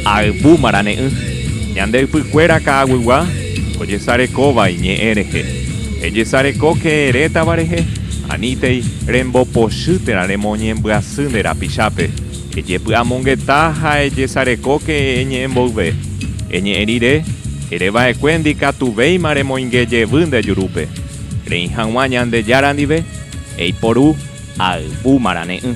Ayvu marane'ỹ. Ñande ypykuéra ka'aguygua ojesarekóva iñe'ẽ rehe. Ejesarekóke retãva rehe, anítei rembopochy térã remoñembyasy nde rapichápe. Ejepy'amongeta ha ejesarekóke eñe'ẽ mboyve. Eñe'ẽ rire, ere va'ekue ndikatuvéima remoinge jevy nde jurúpe. Reĩ hag̃ua Ñandejára ndive, eiporu ayvu marane'ỹ.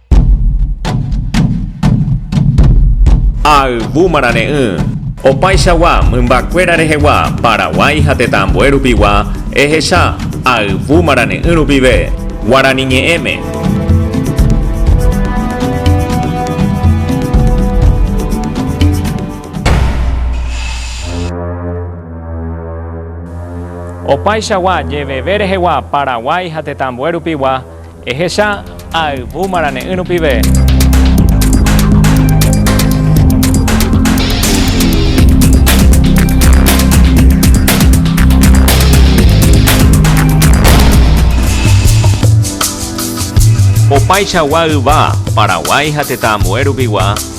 Ayvúma rane'ỹ. Opaichagua mymbakuéra rehegua Paraguái ha tetã ambue rupigua ehecha ayvúma rane'ỹ rupive Guarani ñe'ẽme. Opaichagua jeveve rehegua Paraguái ha tetã ambue rupigua Ehecha ayvu marane'ỹ rupive. Opaichagua yva, Paraguái ha tetã ambue rupigua,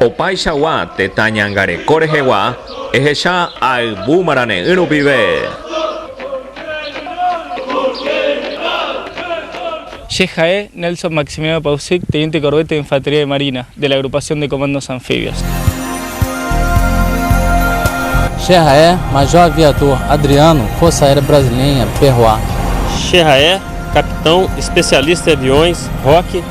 Opaichagua tetã ñangareko rehegua ehecha ayvu marane'ỹ rupive. Che ha'e Nelson Maximiliano Pausic, teniente corbete de infantería de marina, de la Agrupación de Comandos Anfibios. Che ha'e Major Aviador Adriano, Força Aérea Brasileña, PROA. Che ha'e Capitão Especialista de Aviões, Roque,